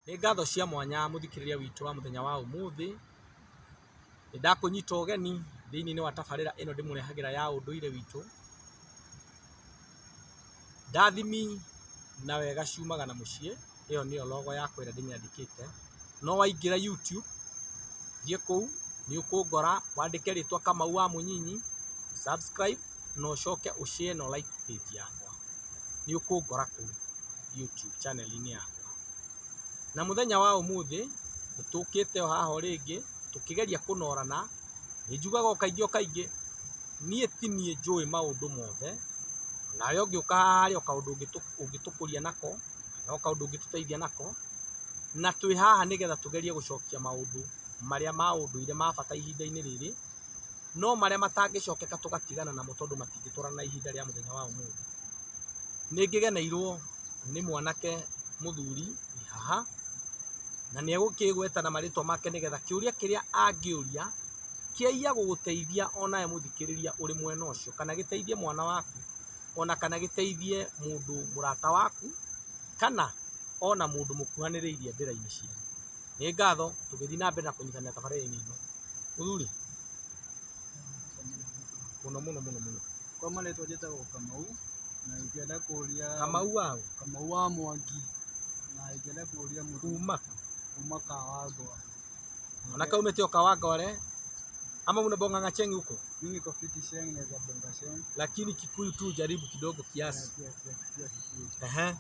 Nĩ ngatho cia mwanya mũthikĩrĩria witũ wa mũthenya wa ũmũthĩ, nĩ ndakũnyita ũgeni thĩinĩ wa tabarĩra ĩno ndĩmũrehagĩra ya ũndũire witũ. Ndathimi na wega ciumaga na mũciĩ, ĩyo nĩyo logo yakwa ĩrĩa ndĩmĩandĩkĩte. No waingĩra YouTube, thiĩ kũu nĩ ũkũngora, wandĩke rĩtwa Kamau wa Mũnyinyi, subscribe. na ũcoke ũ share na ũ like page yakwa, nĩ ũkũngora kũu YouTube channel inĩ yakwa. Na mũthenya wa ũmũthĩ nĩ tũkĩte o haha o rĩngĩ tũkĩgeria kũnorana, nĩ njugaga o kaingĩ o kaingĩ niĩ ti niĩ njũĩ maũndũ mothe, nawe ũngĩũka haha rĩ o kaũndũ ũngĩtũkũria nako, no kaũndũ ũngĩtũteithia nako, na twĩ haha nĩ getha tũgerie gũcokia maũndũ marĩa ma ũndũire ma bata ihinda-inĩ rĩrĩ. no marĩa matangĩcokeka tũgatigana namo tondũ matingĩtwarana na ihinda rĩa mũthenya wa ũmũthĩ. Nĩ ngĩgeneirwo nĩ mwanake mũthuri wĩ haha, na nĩ egũkĩgweta na marĩtwa make nĩgetha kĩũria kĩrĩa angĩũria kĩaiya gũgũteithia o nawe mũthikĩrĩria ũrĩ mwena ũcio, kana gĩteithie mwana waku, ona kana gĩteithie mũndũ mũrata waku, kana ona mũndũ mũkuhanĩrĩirie ndĩra-inĩ cianyu. Nĩ ngatho tũgĩthiĩ na mbere na kũnyitanĩra tabarĩra-inĩ ĩno. Mũthuri? Mũno mũno mũno mũno. Kwa marĩtwa njĩtagwo Kamau, na ingĩenda kũria... Kamau wa ũ? Kamau wa Mwangi, na ingĩenda kũria mũthuri... Kuma? Kuma Kawangware. Ona kaumĩte o Kawangware? Ama unabonga na Cheng huko? Mimi niko fiti Cheng, naweza bonga Cheng. Lakini Kikuyu tu jaribu kidogo kiasi. Pia Kikuyu. Ehe.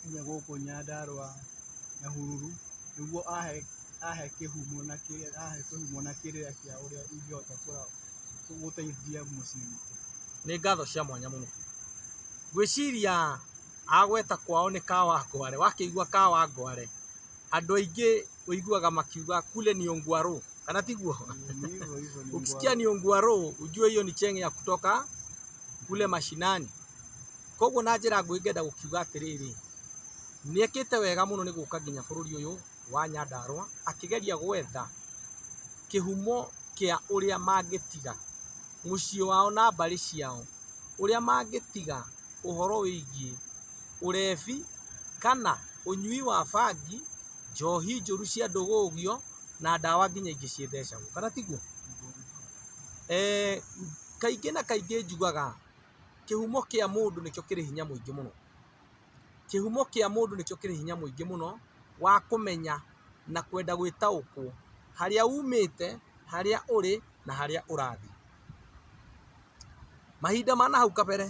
nginya gũkũ Nyandarũa Nyahururu nĩguo ahe kĩhumo na kĩrĩra kĩa ũrĩa ingĩhota gũteithia mũciĩ witũ. Nĩ ngatho cia mwanya mũno. Ngwĩciria agweta kwao nĩ Kawangware, wakĩigua Kawangware andũ aingĩ ũiguaga makiuga kule ni Ongwarũ kana tiguo? Ukisikia ni Ongwarũ ujue hiyo ni cheng ya kutoka kule mashinani. Koguo na njĩra nguhĩ ngenda gũkiuga atĩrĩrĩ, nĩekĩte wega mũno nĩ gũka nginya bũrũri ũyũ wa Nyandarũa akĩgeria gwetha kĩhumo kĩa ũrĩa mangĩtiga mũciĩ wao na mbarĩ ciao, ũrĩa mangĩtiga ũhoro wĩgiĩ ũrebi kana ũnyui wa bangi, njohi njũru cia ndũgũgio na ndawa nginya ingĩ cithecagwo, kana tiguo? Kaingĩ na kaingĩ njugaga Kĩhumo kĩa mũndũ nĩkĩo kĩrĩ hinya mũingĩ mũno. Kĩhumo kĩa mũndũ nĩkĩo kĩrĩ hinya mũingĩ mũno wa kũmenya na kwenda gwĩtaũkwo harĩa umĩte, harĩa ũrĩ na harĩa ũrathiĩ. Mahinda ma nahau kabere,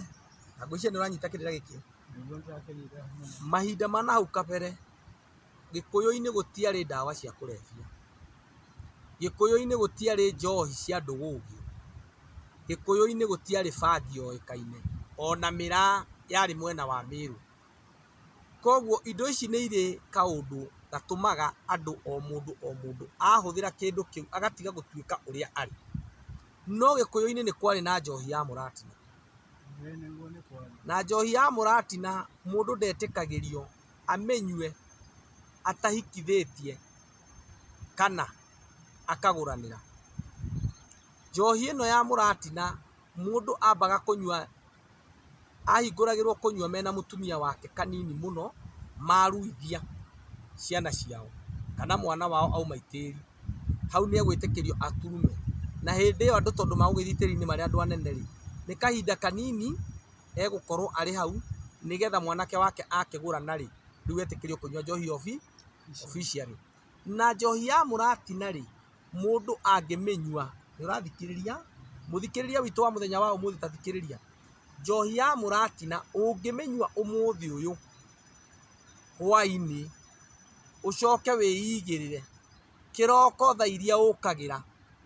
na ngwĩciria nĩ ũranyita kĩrĩra gĩkĩ, mahinda ma nahau kabere, Gĩkũyũ-inĩ gũtiarĩ ndawa cia kũrebia, Gĩkũyũ-inĩ gũtiarĩ njohi cia ndũgũgio, Gĩkũyũ-inĩ gũtiarĩ bangi yoĩkaine, ona mĩraa yarĩ mwena wa Mĩrũ. Koguo indo ici nĩ irĩ kaũndũ gatũmaga andũ o mũndũ o mũndũ ahũthĩra kĩndũ kĩu agatiga gũtuĩka ũrĩa arĩ. No Gĩkũyũ-inĩ nĩ kwarĩ na njohi ya mũratina, na njohi ya mũratina mũndũ ndetĩkagĩrio amĩnyue atahikithĩtie kana akagũranĩra. Njohi ĩno ya mũratina mũndũ ambaga kũnyua, ahingũragĩrwo kũnyua mena mũtumia wake kanini mũno maruithia ciana ciao kana mwana wao auma itĩri, hau nĩ egwĩtĩkĩrio aturume. Na hĩndĩ ĩyo andũ tondũ magũgĩthiĩ itĩri-inĩ marĩ andũ anene rĩ, nĩ kahinda kanini egũkorwo arĩ hau nĩgetha mwanake wake akĩgũrana rĩ, rĩu etĩkĩrio kũnyua njohi obi officially. Na njohi ya mũratina rĩ, mũndũ angĩmĩnyua, nĩ ũrathikĩrĩria? Mũthikĩrĩria witũ wa mũthenya wa ũmũthĩ ta thikĩrĩria. Njohi ya mũratina ũngĩmĩnyua ũmũthĩ ũyũ hwainĩ, ũcoke wĩigĩrĩre. kĩroko thaa iria ũkagĩra,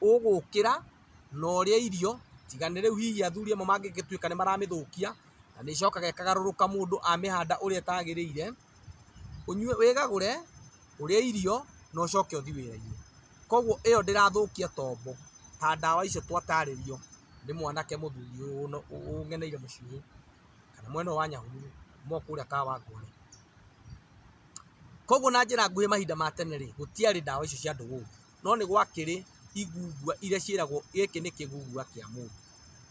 ũgũkĩra na ũrĩe irio, tiga nĩ rĩu hihi athuri amwe mangĩgĩtuĩka nĩ maramĩthũkia, na nĩ ĩcokaga ĩkagarũrũka mũndũ amĩhanda ũrĩa ĩtagĩrĩire, ũnyue, wĩgagũre, ũrĩe irio na ũcoke ũthiĩ wĩra-inĩ. Koguo ĩyo ndĩrathũkia tombo ta ndawa icio twatarĩrio nĩ mwanake mũthuri ũyũ ũngeneire mũciĩ ũyũ, kana mwena ũyũ wa Nyahururu, kuma o kũrĩa Kawangware. Koguo na njĩra nguhĩ mahinda ma tene rĩ, gũtiarĩ ndawa icio cia ndũgũgu, no nĩ gwakĩrĩ igungua iria ciĩragwo gĩkĩ nĩ kĩgugua kĩa mũndũ.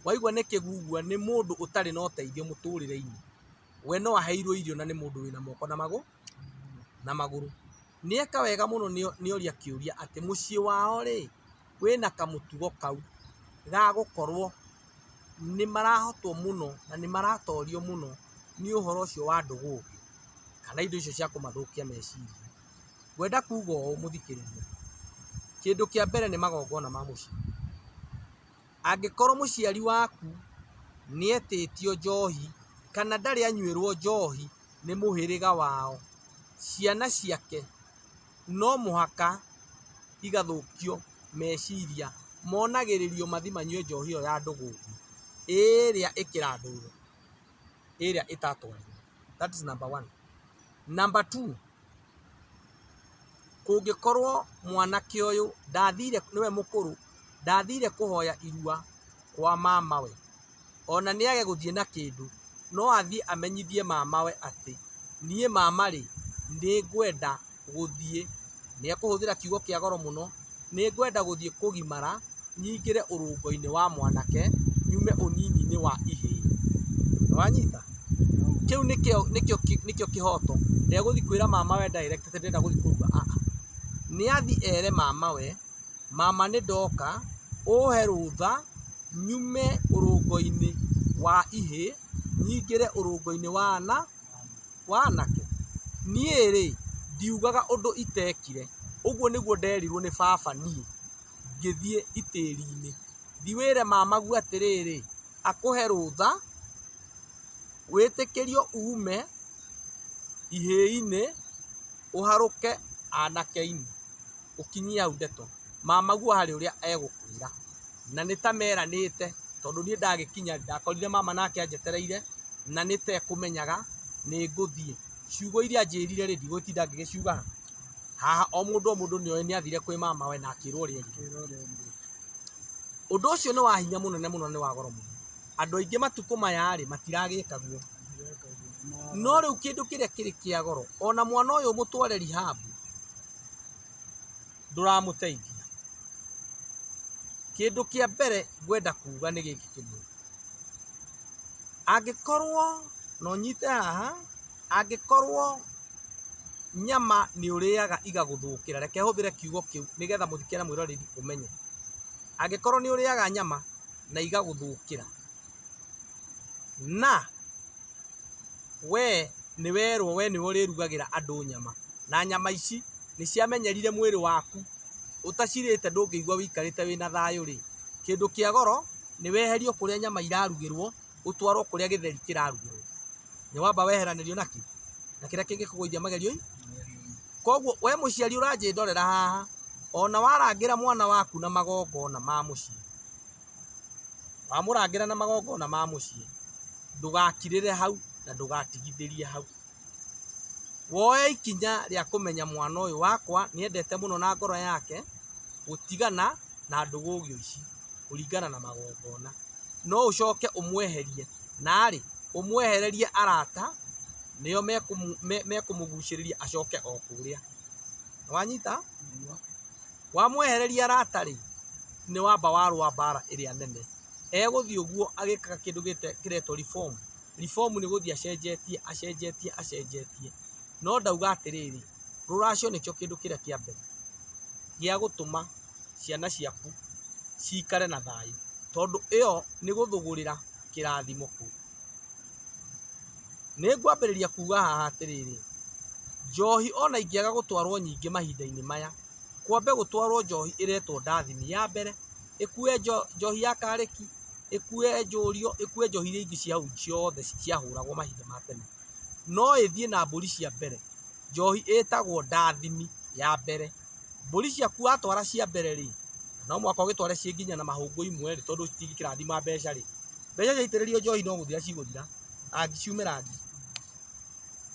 Waigua nĩ kĩgugua nĩ mũndũ ũtarĩ na ũteithio mũtũrĩre-inĩ, we no aheirwo irio na nĩ mũndũ wĩna moko na magũrũ, na magũrũ. Nĩ eka wega mũno nĩ oria kĩũria atĩ mũciĩ wao rĩ, wĩna kamũtugo kau ga gũkorwo nĩ marahotwo mũno na nĩ maratorio mũno nĩ ũhoro ũcio wa ndũgũ kana indo icio cia kũmathũkia meciria. Ngwenda kuga ũũ mũthikĩrĩria, kĩndũ kĩa mbere nĩ magongona ma mũciĩ. Angĩkorwo mũciari waku nĩ etĩtio njohi kana ndarĩ anyuĩrwo njohi nĩ mũhĩrĩga wao, ciana ciake... no mũhaka igathũkio meciria monagĩrĩrio mathi manyue njohi ĩyo ya ndũgũngũ ĩrĩa ĩkĩrathũrwo ĩrĩa ĩtatwarĩtwo that is number one. Number two, kũngĩkorwo mwanake ũyũ ndathire nĩwe mũkũrũ ndathire kũhoya irua kwa mamawe ona nĩage gũthiĩ na kĩndũ, no athiĩ amenyithie mamawe atĩ, niĩ mama rĩ, nĩ ngwenda gũthiĩ, nĩ ekũhũthĩra kiugo kĩa goro mũno, nĩ ngwenda gũthiĩ kũgimara, nyingĩre ũrũngo-inĩ wa mwanake, nyume ũnini-inĩ wa ihĩĩ. Nĩ wanyita? Kĩu nĩkĩo nĩkĩo nĩkĩo kĩhoto. Ndegũthiĩ kwĩra mamawe direct atĩ ndĩrenda gũthiĩ kũrua, aah. Nĩ athiĩ ere mamawe... Mama nĩndoka ũhe rũtha nyume ũrũngoinĩ wa ihĩ nyingĩre ũrũngoinĩ wa ana wa anake. Niĩ-rĩ ndiugaga ũndũ itekire, ũguo nĩguo nderirwo nĩ baba niĩ ngĩthiĩ itĩrinĩ. Thiĩ wĩre mamagu atĩrĩrĩ akũhe rũtha wĩtĩkĩrio ume ihĩinĩ ũharũke anakeinĩ. ũkinyie hau ndeto, mamaguo harĩ ũrĩa egũkwĩra. Na nĩ ta meranĩte, tondũ niĩ ndagĩkinya ndakorire mama nake anjetereire, na nĩ ta ekũmenyaga nĩ ngũthiĩ. Ciugo iria anjĩrire rĩ, ndigũtinda ngĩgĩciuga haha. Haha o mũndũ o mũndũ nĩ oĩ nĩ athire kwĩ mamawe na akĩrwo ũrĩa erĩtwo. Wĩra ũrĩa ũngĩ. Ũndũ ũcio nĩ wa hinya mũnene mũno na nĩ wa goro mũno. Andũ aingĩ matukũ maya rĩ, matiragĩka guo. Ndireka ũguo. No rĩu kĩndũ kĩrĩa kĩrĩ kĩa goro, ona mwana ũyũ mũtware rehab, ndũramũteithia. Kĩndũ kĩa mbere ngwenda kuga nĩ gĩkĩ kĩmwe, angĩkorwo na ũnyite haha, angĩkorwo nyama nĩ ũrĩaga igagũthũkĩra, reke hũthĩre kiugo kĩu nĩgetha mũthikĩre na mwĩroreri ũmenye, angĩkorwo nĩ ũrĩaga nyama na igagũthũkĩra, Na wee nĩwerwo wee nĩwe ũrĩrugagĩra andũ nyama, na nyama ici nĩciamenyerire mwĩrĩ waku, ũtacirĩte ndũngĩigua wĩikarĩte wĩna thayũ-rĩ, kĩndũ kĩa goro nĩweherio kũrĩa nyama irarugĩrwo ũtwarwo kũrĩa gĩtheri kĩrarugĩrwo. Nĩwamba weheranĩrio na kĩ? Na kĩrĩa kĩngĩkũgũithia magerio-inĩ. Kuoguo we mũciari ũranjĩndorera haha, ona warangĩra mwana waku na magongona ma mũciĩ. Wamũrangĩra na magongona ma mũciĩ, ndũgakirĩre hau na ndũgatigithĩrie hau. Woe ikinya rĩa kũmenya mwana ũyũ wakwa nĩ endete mũno na ngoro yake gũtigana na ndũgũgio ici kũringana na magongona. No ũcoke ũmweherie na rĩ, ũmwehererie arata nĩo mekũmũgucĩrĩria acoke o kũrĩa. Nĩ wanyita? Wamwehereria Lata rĩ nĩ wamba wa rũa mbara ĩrĩa nene. Egũthiĩ ũguo agĩkaga kĩndũ kĩretwo reform. Reform nĩ gũthiĩ acenjetie acenjetie acenjetie. No ndauga atĩrĩrĩ, rũracio nĩkĩo kĩndũ kĩrĩa kĩa mbere gĩa gũtũma ciana ciaku cikare na thayũ. Tondũ ĩyo nĩ gũthũgũrĩra kĩrathimo kũu. Nĩngwambĩrĩria kuuga haha atĩrĩrĩ, njohi o na ingĩaga gũtwarwo nyingĩ mahinda-inĩ maya, kwambe gũtwarwo njohi ĩretwo ndathini ya mbere, ĩkue njohi ya karĩki, ĩkue njũriũ, ĩkue njohi iria ingĩ cia hau ciothe ciahũragwo mahinda ma tene, no ĩthiĩ na mbũri cia mbere, njohi ĩtagwo ndathini ya mbere. Mbũri ciaku watwara cia mbere-rĩ, no mũhaka ũgĩtware ciĩ nginya na mahũngũ imwe-rĩ, tondũ citingĩkĩrathima mbeca-rĩ, mbeca ciaitĩrĩrio njohi no gũthira cigũthira. angĩciumĩra ngi.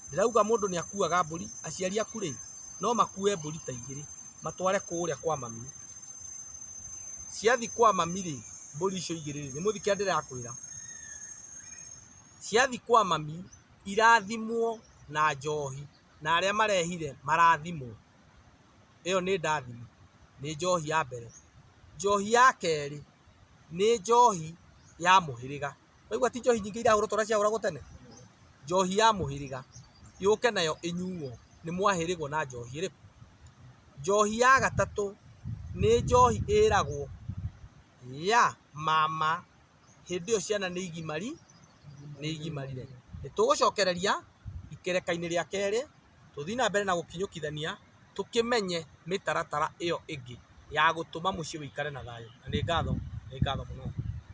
Ndĩrauga mũndũ nĩ akuaga mbũri, aciari aku rĩ, no makue mbũri ta igĩrĩ matware kũrĩa kwa mami. Ciathiĩ kwa mami rĩ, mbũri icio igĩrĩ rĩ, nĩ mũthii kĩrĩa ndĩrakwĩra? Ciathiĩ kwa mami, irathimwo na njohi na arĩa marehire marathimwo. Ĩyo nĩ ndathimo, nĩ njohi ya mbere. Njohi ya kerĩ, nĩ njohi ya mũhĩrĩga. Waigua ti njohi nyingĩ irahũrwo ta ũrĩa ciahũragwo tene? Njohi ya mũhĩrĩga yũke nayo ĩnyuo nĩ mwahĩrĩgwo na njohi ĩrĩkũ? Njohi ya gatatũ nĩ njohi ĩragwo ya mama hĩndĩ ĩyo ciana nĩ igimari nĩ igimarire. Nĩ tũgũcokereria ikereka-inĩ rĩa kerĩ tũthiĩ na mbere na gũkinyũkithania tũkĩmenye mĩtaratara ĩyo ĩngĩ ya gũtũma mũciĩ ũikare na thayũ. Na nĩ ngatho nĩ ngatho mũno.